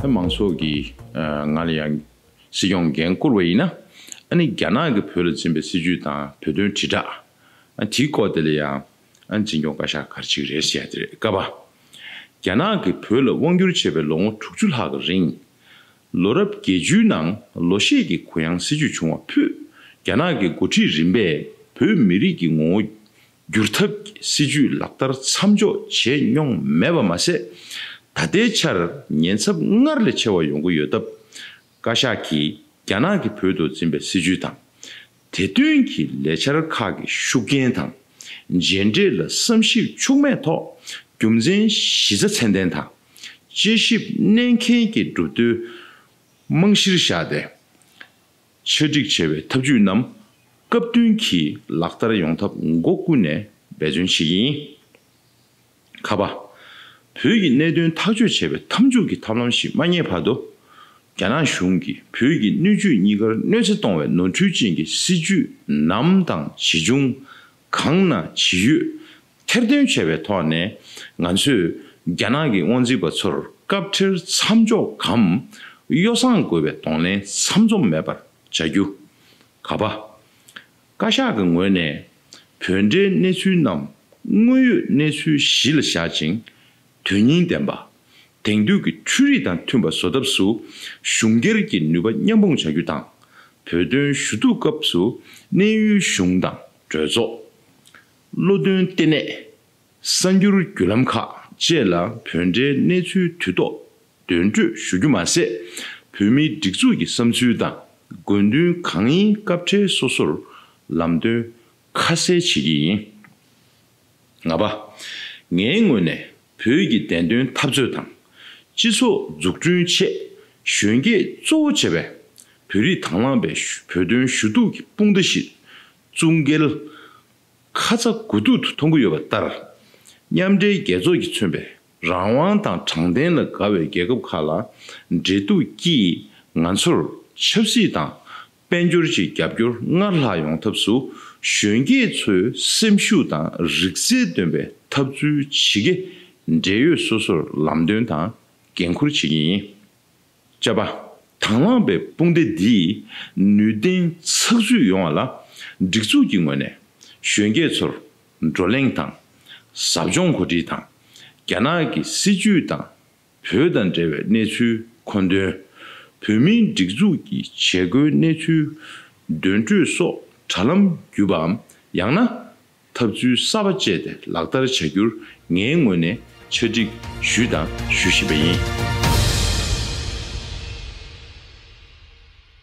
མང་ཚོགས་ཀྱིས་ང་ལ་ཡང་སྲིད་སྐྱོང་འགན་བསྐུར་བ་ཡིན་ན། ཨ་ནི་རྒྱ་ནག་གིས་བོད་ལ་འཛིན་པའི་སྲིད་བྱུས་དང་བོད་དོན་དྲིལ་བསྒྲགས། དེའི་སྐོར་དེ་ལ་ཡང་འཛིན་སྐྱོང་བཀའ་ཤག་གར་ཅིག་རེད་ཟེར་ཡ་དེ་རེད་དཀའ་བ། རྒྱ་ནག་གིས་བོད་ལ་དབང་བསྒྱུར་བྱས་པའི་ལོ་ངོ་དྲུག་ཅུ་ལྷག་གི་རིང། ལོ་རབས་བརྒྱད་ཅུའི་ནང་ལོ་ཤས་ཀྱི་གུ་ཡངས་སྲིད་ཇུས་བྱུང་བ་ཕུད་རྒྱ་ནག་གི་འགོ་ཁྲིད་རིམ་པས་བོད་མི་རིགས་ཀྱི་ངོ་བོ་བསྒྱུར་ཐབས་ཀྱི་སྲིད་ཇུས་ལག་བསྟར་མཚམས་འཇོག་བྱས་མྱོང་མེད་པ་མ་ཟད། ད་ལྟའི་ཆར་ཉེན་ཚབས་སྔར་ལས་ཆེ་བ་ཡོང་གི་ཡོད་སྟབས། བཀའ་ཤག་གིས་རྒྱ་ནག་གིས་བོད་དུ་འཛིན་པའི་སྲིད་ཇུས་དང། དེ་བསྟུན་གྱིས་ལས་འཆར་ཁག་གི་ཤུགས་རྐྱེན་དང་མཇལ་འཕྲད་ལ་བསམ་ཞིབ་འཕྱུགས་མེད་ཐོག་རྒྱུ་མཚན་གཞི་རྩ་ཚད་ལྡན་དང་དཔྱད་ཞིབ་གནད་འཁེལ་གྱི་སྒྲུབ་བརྟོལ་རྨང་གཞིར་བཞག་སྟེ། ཆ་སྒྲིག་བྱས་པའི་ཐབས་ཇུས་རྣམས་སྐབས་བསྟུན་གྱིས་ལག་བསྟར་ཡོང་ཐབས་སྒོ་ཀུན་ནས་འབད་བརྩོན་བྱེད་ཀྱིན་ཡིན། ཁ་བ། བོད་ཀྱི་གནད་དོན་ཐག་གཅོད་བྱེད་པའི་མཐའ་མཇུག་གི་ཐབས་ལམ་ཞིག་མ་རྙེད་བར་དུ། རྒྱ་ནག་གཞུང་གིས་བོད་ཀྱི་སྣོད་བཅུད་གཉིས་ཀར་གནོད་འཚེ་གཏོང་བའི་ནོར་འཁྲུལ་ཅན་གྱི་སྲིད་ཇུས་ནམ་དང་ཇི་བྱུང། གང་ན་ཇི་ཡོད། ཐེར་འདོན་བྱས་པའི་ཐོག་ནས་ང་ཚོས་རྒྱ་ནག་གི་དབང་འཛིན་པ་ཚོར་སྐབས་འཕྲལ་མཚམས་འཇོག་གམ་གཡོ་བསྲང་དགོས་པའི་གདོང་ལེན་ཚམ་ཚོམ་མེད་པར་བྱ་རྒྱུ། ཁ་བ། བཀའ་ཤག་གི་ངོས་ནས་བོད་འབྲེལ་གནས་ཚུལ་རྣམས་དངོས་ཡོད་གནས་ཚུལ་གཞི་ལ་བཞག་ཅིང། དོན་སྙིང་ལྡན་པ། དེང་དུས་ཀྱི་འཕྲུལ་རིག་དང་མཐུན་པ་བཟོ་ཐབས་སུ་གཞུང་སྒེར་གྱི་ནུས་པ་མཉམ་སྤུངས་བྱ་རྒྱུ་དང། བོད་དོན་ཞུ་གཏུག་སྐབས་སུ་གནས་ཡུལ་གཞུང་དང་གྲོས་ཚོགས། བློ་མཐུན་ལྟེ་གནས། གསར་འགྱུར་བརྒྱུད་ལམ་ཁག་བཅས་ལ་བོད་འབྲེལ་གནས་ཚུལ་དུས་ཐོག་འདོན་སྤྲོད་ཞུ་རྒྱུ་མ་ཟད། བོད་མིའི་སྒྲིག་འཛུགས་ཀྱི་བསམ་ཚུལ་དང་དགོས་འདུན་གང་ཡིན་སྐབས་འཕྲལ་སོ་སོར་ལམ་སྟོན་ཁ་གསལ་བྱེད་ཀྱི་ཡིན། ལྔ་པ། ངའི་ངོས་ནས་བོད་ཀྱི་བདེན་དོན་འཐབ་རྩོད་དང། སྤྱི་ཚོགས་འཛུགས་སྐྲུན་ཆེད་གཞོན་སྐྱེས་གཙོ་བོ་བྱས་པའི་བོད་རིགས་དང་བླངས་པའི་བོད་དོན་ཞུ་གཏུག་གི་དཔུང་སྡེ་ཞིག་བཙུགས་འགེལ་ཁ་ཚ་དགོས་གཏུག་ཏུ་མཐོང་གི་ཡོད་པ་ལྟར། མཉམ་འབྲེལ་རྒྱལ་ཚོགས་ཀྱིས་མཚོན་པའི་རང་དབང་དང་དྲང་བདེན་ལ་དགའ་བའི་རྒྱལ་ཁབ་ཁག་ལ་འབྲེལ་གཏུག་ཀྱིས་ང་ཚོར་ཆབ་སྲིད་དང་དཔལ་འབྱོར་གྱི་རྒྱབ་སྐྱོར་སྔར་ལྷག་ཡོང་ཐབས་སུ་གཞོན་སྐྱེས་ཚོའི་སེམས་ཤུགས་དང་རིག་རྩལ་འདོན་པའི་ཐབས་ཚུལ་ཇི་དགེ་འབྲེལ་ཡོད་སོ་སོར་ལམ་སྟོན་དང་འགན་འཁུར་བྱེད་ཀྱི་ཡིན། བཅའ་བ། དང་བླངས་པའི་དཔུང་སྡེ་འདིས་ནུས་ལྡན་ཚགས་ཚུད་ཡོང་བ་ལ་སྒྲིག་འཛུགས་ཀྱི་ངོས་ནས་གཞོན་སྐྱེས་ཚོར་བགྲོ་གླེང་དང། ཟབ་སྦྱོང་གོ་སྒྲིག་དང། རྒྱ་ནག་གི་སྲིད་ཇུས་དང་བོད་དང་འབྲེལ་བའི་གནས་ཚུལ་མཁོ་འདོན། བོད་མིའི་སྒྲིག་འཛུགས་ཀྱི་བྱེད་སྒོའི་གནས་ཚུལ་འདོན་སྤྲོད་སོགས་དྲ་ལམ་བརྒྱུད་པའམ་ཡང་ན་ཐབས་ཚུལ་གསར་པ་སྤྱད་དེ་ལག་བསྟར་བྱ་རྒྱུར་ངའི་ངོས་ནས་ཆ་འགྲིག་ཞུས་དང་ཞུ་བཞིན་པ་ཡིན།